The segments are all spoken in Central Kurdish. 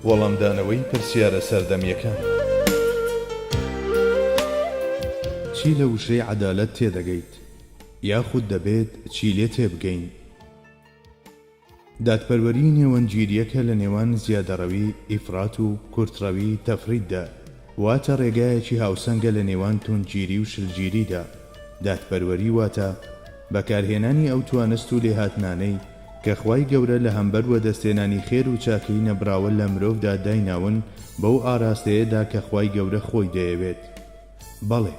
وەڵامدانەوەی پرسیارە سەردەمییەکان چی لە وشەی عەدالەت تێدەگەیت؟ یاخود دەبێت چی لێ تێبگەین؟ دادپەروەری نێوەندگیرییەکە لە نێوان زیادەڕەوی، ئیفراط، و کورتڕەوی، تفریط، دا، واتە ڕێگایەکی هاوسەنگە لە نێوان توندگیری و شلگیریدا، دادپەروەری واتە بەکارهێنانی ئەو توانست و لێهاتنانەی کە خوای گەورە لە هەمبەر وەدەستهێنانی خێر و چاکەی نەبراوە لە مرۆڤدا دایناون بەو ئاراستەیەدا کە خوای گەورە خۆی دەیەوێت. بەڵێ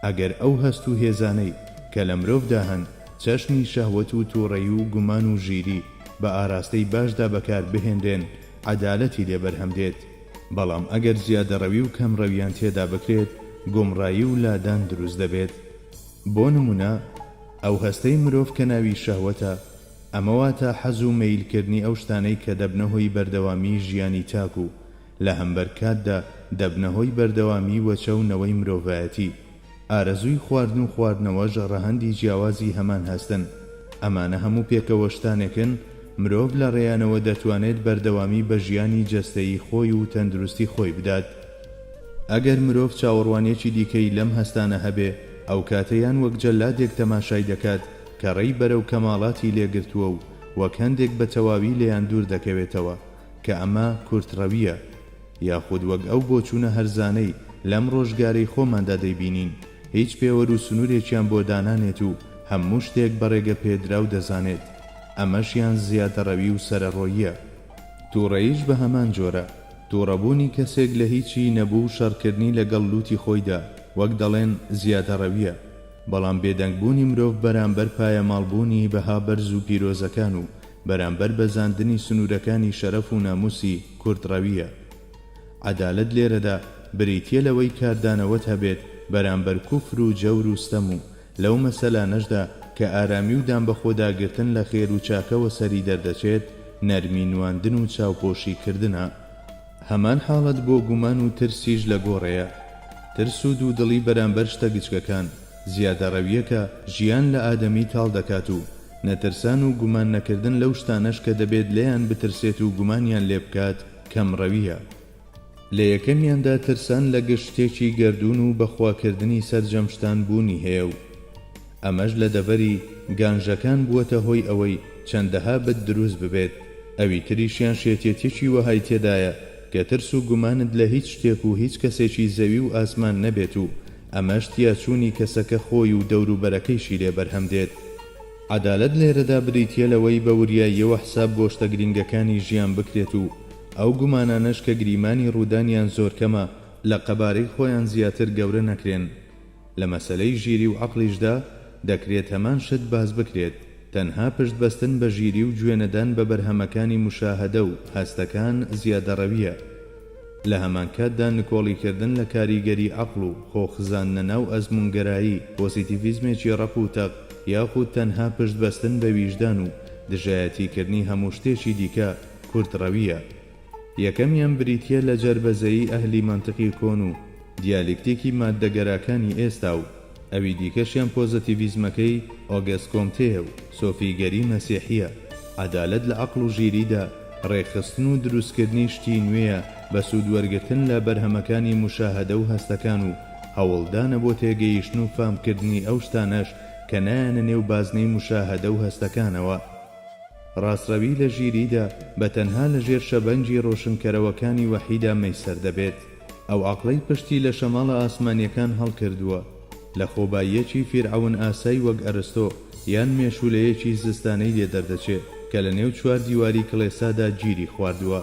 ئەگەر ئەو هەست و هێزانەی کە لە مرۆڤدا هەن چەشنی شەهوەت و توڕەیی و گومان و ژیری بە ئاراستەی باشدا بەکار بهێنرێن عەدالەتی لێ بەرهەم دێت بەڵام ئەگەر زیادەڕەوی و کەمڕەویان تێدا بکرێت گومڕایی و لادان دروست دەبێت بۆ نمونە ئەو هەستەی مرۆڤ کە ناوی شەهوەتە ئەمە واتا حەز و مەیل کردنی ئەو شتانەی کە دەبنە هۆی بەردەوامیی ژیانی تاک و لە هەمبەر کاتدا دەبنە هۆی بەردەوامیی وەچە و نەوەی مرۆڤایەتی. ئارەزووی خواردن و خواردنەوەش ڕەهەندی جیاوازی هەمان هەستن. ئەمانە هەموو پێکەوە شتانێکن، مرۆڤ لە ڕێیانەوە دەتوانێت بەردەوامی بە ژیانی جەستەیی خۆی و تەندروستی خۆی بدات. ئەگەر مرۆڤ چاوەڕوانییەکی دیکەی لەم هەستانە هەبێ، ئەو کاتە یان وەک جەلادێک تەماشای دەکات کە ڕێی بەرەو کەماڵاتی لێ گرتووە و وەک هەندێک بە تەواوی لێیان دوور دەکەوێتەوە، کە ئەمە کورتڕەوییە، یاخود وەک ئەو بۆچوونە هەرزانەی لەم ڕۆژگارەی خۆماندا دەیبینین، هیچ پێوەر و سنوورێکیان بۆ دانانێت و هەموو شتێک بە ڕێگەپێدراو دەزانێت، ئەمەشیان زیادەڕەوی و سەرەڕۆییە. تووڕەییش بە هەمان جۆرە، تووڕەبوونی کەسێک لە هیچی نەبوو و شەڕکردنی لەگەڵ لووتی خۆیدا، وەک دەڵێن، زیادەڕەوییە. بەڵام بێدەنگبوونی مرۆڤ بەرامبەر پایەماڵبوونی بەها بەرز و پیرۆزەکان و بەرامبەر بەزاندنی سنوورەکانی شەرەف و نامووسی کورتڕەوییە. عەدالەت لێرەدا بریتییە لەوەی کاردانەوەت هەبێت بەرامبەر کوفر و جەور و ستەم و لەو مەسەلانەشدا کە ئارامی و دانبەخۆداگرتن لە خێر و چاکەوە سەری دەردەچێت نەرمی نواندن و چاوپۆشیکردنە. هەمان حاڵەت بۆ گومان و ترسیش لە گۆڕێیە. ترس و دوودڵی بەرامبەر شتە گچکەکان، زیادەڕەوییەکە، ژیان لە ئادەمی تاڵ دەکات و نەترسان و گومان نەکردن لەو شتانەش کە دەبێت لێیان بترسێت و گومانیان لێ بکات، کەمڕەوییە. لە یەکەمیاندا ترسان لە گشت شتێکی گەردوون و بەخواکردنی سەرجەم شتان بوونی هەیە و، ئەمەش لە دەڤەری گانژەکان بووەتە هۆی ئەوەی چەندەها بت دروست ببێت، ئەوی تریشیان شێتیەتیەکی وەهای تێدایە کە ترس و گومانت لە هیچ شتێک و هیچ کەسێکی زەوی و ئاسمان نەبێت و ئەمەش تیاچوونی کەسەکە خۆی و دەوروبەرەکەیشی لێ بەرهەم دێت. عەدالەت لێرەدا بریتیە لەوەی بە وریاییەوە حساب بۆ شتە گرینگەکانی ژیان بکرێت و ئەو گومانانەش کە گریمانی ڕوودانیان زۆر کەمە لە قەبارەی خۆیان زیاتر گەورە نەکرێن. لە مەسەلەی ژیری و عەقڵیشدا دەکرێت هەمان شت باس بکرێت، تەنها پشت بەستن بە ژیری و گوێ نەدان بە بەرهەمەکانی موشاهەدە و هەستەکان زیادەڕەوییە. لە هەمانکاتدا نکۆڵی کردن لە کاریگەری عەقڵ و خۆ خزاندنە ناو ئەزموونگەرایی، پۆزیتیڤیزمێکی ڕەق و تەق، یاخود تەنها پشت بەستن بە ویژدان و دژایەتی کردنی هەموو شتێکی دیکە، کورتڕەوییە. یەکەمیان بریتییە لە جەربەزەیی ئەهلی مەنتقی کۆن و دیالیکتیکی ماددەگەراکانی ئێستا و ئەوی دیکەشیان پۆزەتیڤیزمەکەی ئۆگەست کۆمتێیە و سۆفیگەری مەسیحییە، عەدالەت لە عەقڵ و ژیریدا، ڕێکخستن و دروستکردنی شتی نوێیە بە سوودوەرگرتن لە بەرهەمەکانی موشاهەدە و هەستەکان و هەوڵدانە بۆ تێگەیشتن و فامکردنی ئەو شتانەش کە نایەنە نێو بازنەی موشاهەدە و هەستەکانەوە. ڕاستڕەوی لە ژیریدا بە تەنها لە ژێر شەبەنگی ڕۆشنکەرەوەکانی وەحیدا مەیسەر دەبێت. ئەو عەقڵەی پشتی لە شەماڵە ئاسمانیەکان هەڵکردووە، لە خۆباییەکی فیرعەون ئاسای وەک ئەرستۆ یان مێشوولەیەکی زستانەی لێ دەردەچێ کە لە نێو چوار دیواری کڵێسادا گیری خواردووە.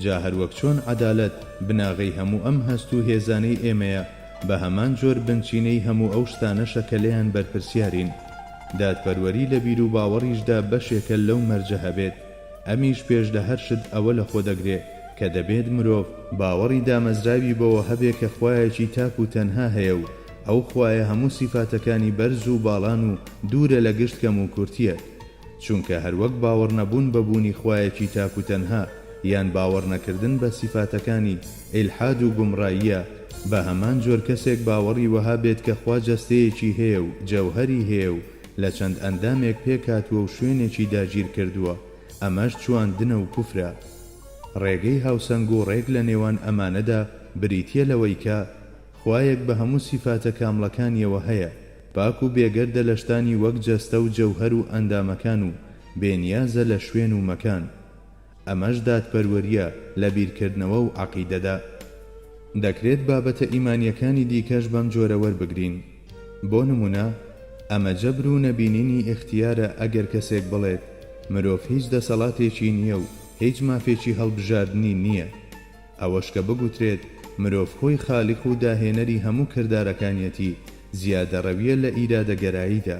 جا هەروەک چۆن عەدالەت بناغەی هەموو ئەم هەست و هێزانەی ئێمەیە، بە هەمان جۆر بنچینەی هەموو ئەو شتانەشە کە لێیان بەرپرسیارین. دادپەروەری لە بیروباوەڕیشدا بەشێکە لەو مەرجە هەبێت، ئەمیش پێش لە هەر شت ئەوە لە خۆ دەگرێ کە دەبێت مرۆڤ، باوەڕی دامەزراوی بەوە هەبێ کە خوایەکی تاک و تەنها هەیە و ئەو خوایە هەموو سیفاتەکانی بەرز و باڵان و دوورە لە گشت کەم و کورتییەک. چونکە هەروەک باوەڕنەبوون بە بوونی خوایەکی تاک و تەنها یان باوەڕنەکردن بە سیفاتەکانی، ئیلحاد و گومڕاییە، بە هەمان جۆر کەسێک باوەڕی وەها بێت کە خوا جەستەیەکی هەیە و جەوهەری هەیە و لە چەند ئەندامێک پێکهاتووە و شوێنێکی داگیرکردووە، ئەمەش چواندنە و کوفرە. ڕێگەی هاوسەنگ و ڕێک لە نێوان ئەمانەدا بریتییە لەوەی کە، خوایەک بە هەموو سیفاتە کامڵەکانییەوە هەیە، پاک و بێگەردە لە شتانی وەک جەستە و جەوهەر و ئەندامەکان و بێ نیازە لە شوێن و مەکان. ئەمەش دادپەروەرییە لە بیرکردنەوە و عەقیدەدا. دەکرێت بابەتە ئیمانییەکانی دیکەش بەم جۆرە وەربگرین. بۆ نموونە، ئەمە جەبر و نەبینینی ئیختیارە ئەگەر کەسێک بڵێت، مرۆڤ هیچ دەسەڵاتێکی نییە و هیچ مافێکی هەڵبژاردنی نییە. ئەوەش کە بگوترێت مرۆڤ خۆی خالیق و داهێنەری هەموو کردارەکانیەتی زیادەڕەوییە لە ئیرادەگەراییدا.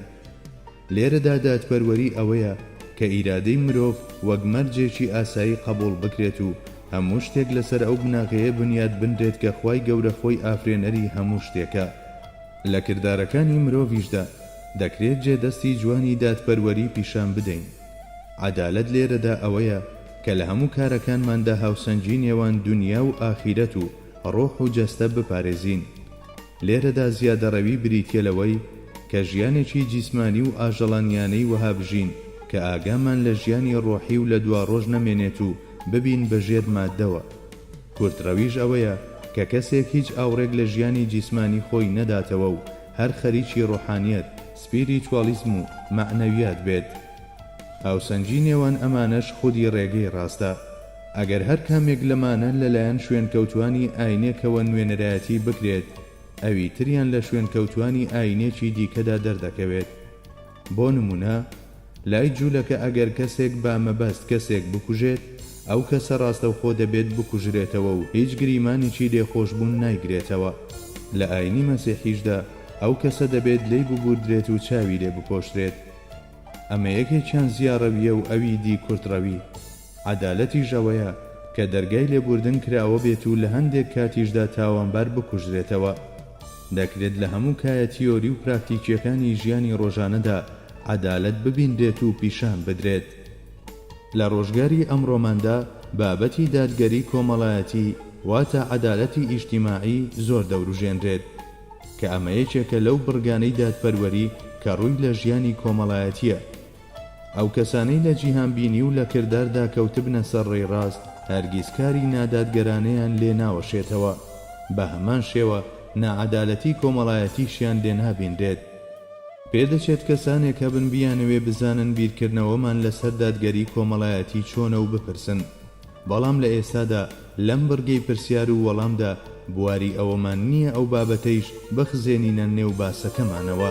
لێرەدا دادپەروەری ئەوەیە کە ئیرادەی مرۆڤ وەک مەرجێکی ئاسایی قەبووڵ بکرێت و هەموو شتێک لەسەر ئەو بناغەیە بنیات بنرێت کە خوای گەورە خۆی ئافرێنەری هەموو شتێکە. لە کردارەکانی مرۆڤیشدا دەکرێت جێدەستی جوانی دادپەروەری پیشان بدەین. عەدالەت لێرەدا ئەوەیە کە لە هەموو کارەکانماندا هاوسەنگی نێوان دونیا و ئاخیرەت و ڕۆح و جەستە بپارێزین. لێرەدا زیادەڕەوی بریتیە لەوەی کە ژیانێکی جیسمانی و ئاژەڵانیانەی وەها بژین کە ئاگامان لە ژیانی ڕۆحی و لە دواڕۆژ نەمێنێت و ببین بە ژێر ماددەوە. کورتڕەویش ئەوەیە کە کەسێک هیچ ئاوڕێک لە ژیانی جیسمانی خۆی نەداتەوە و هەر خەریکی ڕۆحانیەت، سپیریتوالیزم و مەعنەویات بێت. هاوسەنگی نێوان ئەمانەش خودی ڕێگەی ڕاستە. ئەگەر هەر کامێک لەمانە لەلایەن شوێنکەوتوانی ئاینێکەوە نوێنەرایەتی بکرێت، ئەوی تریان لە شوێنکەوتوانی ئاینێکی دیکەدا دەردەکەوێت. بۆ نموونە لای جوولەکە ئەگەر کەسێک بە مەبەست کەسێک بکوژێت، ئەو کەسە ڕاستەوخۆ دەبێت بکوژرێتەوە و هیچ گریمانێکی لێخۆشبوون نایگرێتەوە. لە ئایینی مەسیحیشدا ئەو کەسە دەبێت لێی ببووردرێت و چاوی لێ بپۆشرێت. ئەمە یەکێکیان زیاڕەوییە و ئەوی دی کورتڕەوی. عەدالەتیش ئەوەیە کە دەرگای لێبووردن کراوە بێت و لە هەندێک کاتیشدا تاوانبار بکوژرێتەوە. دەکرێت لە هەموو کایە تیۆری و پراکتیکییەکانی ژیانی ڕۆژانەدا عەدالەت ببینرێت و پیشان بدرێت. لە ڕۆژگاری ئەمڕۆماندا بابەتی دادگەری کۆمەڵایەتی واتە عەدالەتی ئیجتیماعی زۆر دەوروژێنرێت، کە ئەمە یەکێکە لەو بڕگانەی دادپەروەری کە ڕووی لە ژیانی کۆمەڵایەتییە. ئەو کەسانەی لە جیهانبینی و لە کرداردا کەوتبنە سەر ڕێی ڕاست، هەرگیز کاری نادادگەرانەیان لێ ناوەشێتەوە، بە هەمان شێوە ناعەدالەتی کۆمەڵایەتیشیان لێ نابینرێت. پێدەچێت کەسانێک هەبن بیانەوێ بزانن بیرکردنەوەمان لەسەر دادگەری کۆمەڵایەتی چۆنە و بپرسن، بەڵام لە ئێستادا لەم بڕگەی پرسیار و وەڵامدا بواری ئەوەمان نییە ئەو بابەتەیش بخزێنینە نێو باسەکەمانەوە.